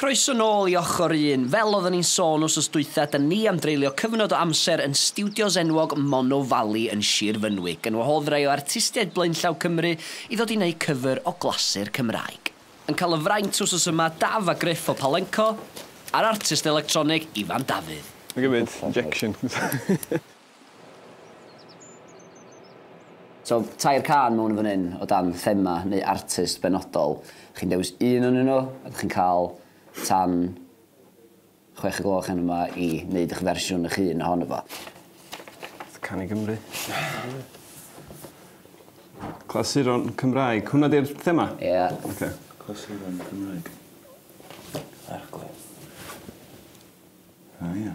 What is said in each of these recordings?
Croeso nôl i Ochr Un. Fel oeddwn i'n sôn wsos dwytha, da ni am dreulio cyfnod o amser yn stiwdios enwog Mono Valley yn Shir Fynwy, gan wahodd rai o artistiaid blaenllaw Cymru i ddod i wneud cyfr o glasur Cymraeg. Yn cael y fraint wsos yma, Daf a Griff o Palenco, a'r artist electronig Ifan Dafydd. Mae gen i injection. So, tair cân mewn yn fan hyn o dan thema neu artist benodol. Chi'n dewis un o'nyn nhw a dych chi'n cael tan chwech y gloch heno 'ma i wneud eich fersiwn eich hun ohono fo. Can i Gymru. Clasuron Cymraeg. Hwnna 'di'r thema? Ie. Ocê. Clasuron Cymraeg. Arglwydd. O ia.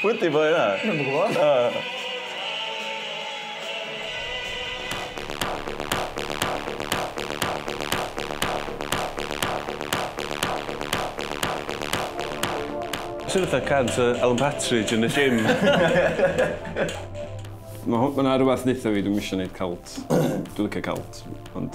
Pwy 'di boi 'na? Dwi'm yn gwbo. O. Swnio fatha cân tŷ Alan Partridge yn y gym. Ma' ho- ma' 'na rwbath deutha fi dwi'm isio neud cult. Dwi licio cult ond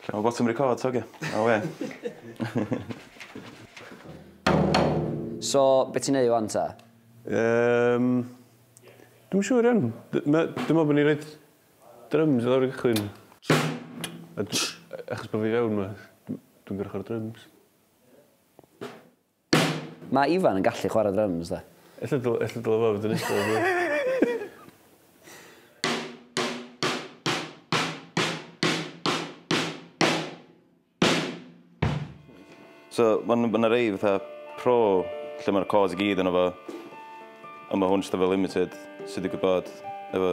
Lle ma botwm record te oce. Awe. So be ti'n neud wan ta? Yym dwi'm yn siŵr iawn. Dwi me'wl bo' ni'n roid dryms i lawr i gychwyn. Achos bo fi fewn ma dwi'n gor'o' chwara drums. Mae Ifan yn gallu chwarae dryms de. Ella dyl- ella dyle fo fod yn iste lawr fan 'na. So ma' n- ma' 'na rei fatha pro lle ma'r chords i gyd yno fo on' ma' hwn jyst efo limited sy digwydd bod efo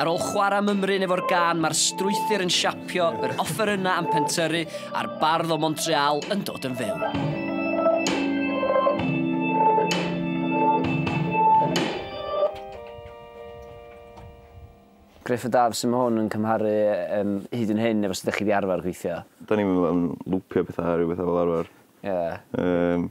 Ar ôl chwarae mymryn efo'r gan, mae'r strwythur yn siapio, yr offerynnau am pentyrru a'r bardd o Montreal yn dod yn fyw. Griff y Daf, sy'n mae hwn yn cymharu um, hyd yn hyn efo sydd ydych chi wedi arfer gweithio? Da ni'n mynd yn lwpio bethau a rhywbeth fel arfer. Ie. Yeah. Um,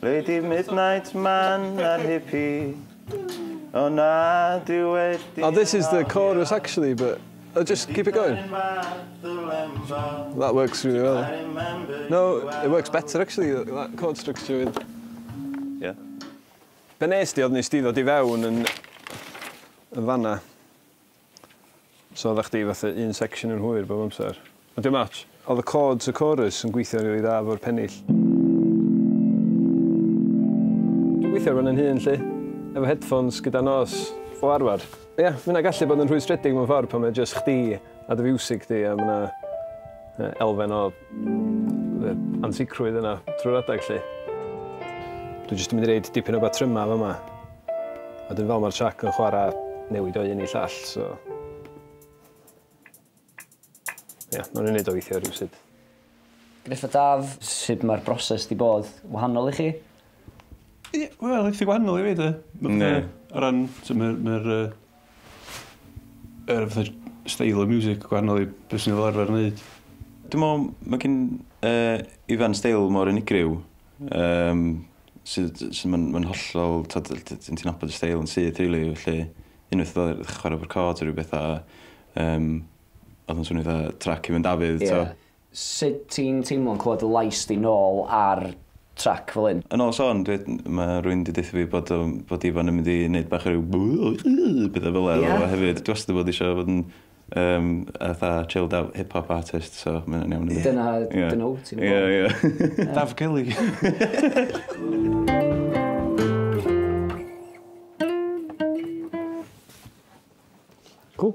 Lady Midnight Man a'r Hippie O na dwi wedi Oh this is the chorus actually but oh just keep it going That works really well No it works better actually that chord structure with Ie. Be' nes di odd nes di ddod i fewn yn yn fan 'na. So odda chdi fatha un section yn hwyr bob amser? Ond dim otsh. Odd y chords y chorus yn gweithio'n rili dda efo'r pennill. Dwi'n gweithio ar 'wn yn hun 'lly. Efo headphones gyda nos o arfar. Ia, ma' hynna gallu bod yn rhwystredig mewn ffordd pan mae jyst chdi a dy fiwsig di a ma' 'na elfen o Bydd yr ansicrwydd yna trwy'r adeg 'lly. Dwi jyst yn mynd i roid dipyn o batrymau fama. A dyn fel mae'r trac yn chwara newid o un i llall, so... Ia, nawn ni neud o weithio rywsut. Griff a Daf, sut mae'r broses 'di bod? Wahanol i chi? Wel, eitha gwahanol i fi de. Ie. O ran, t'mod, mae'r Yr fatha style of music gwahanol i be swn i fel arfer yn neud. Dwi'n meddwl mae gen uh, Ifan steil mor unigryw um, sydd, sydd mae'n ma hollol, ti'n ti nabod y steil yn syth rili, really, felly unwaith oedd ddechrau chwarae o'r cod rhywbeth a um, oedd yn swnio dda trac i fynd Dafydd, yeah. Sut ti'n teimlo'n clywed dy lais di nôl ar trac fel hyn? Yn ôl Siôn, dwi... ma' rywun 'di deutha fi bod o... bod Ifan yn mynd i neud bach o ryw yy petha fela efo fo hefyd. Dwi wastad 'di bod isio bod yn yym fatha chilled out hip hop artist so ma' hynna'n iawn i mi. Dyna... Ie. ...dyna wt ti meddwl? Ie ie. Daf Kelly! Cŵl.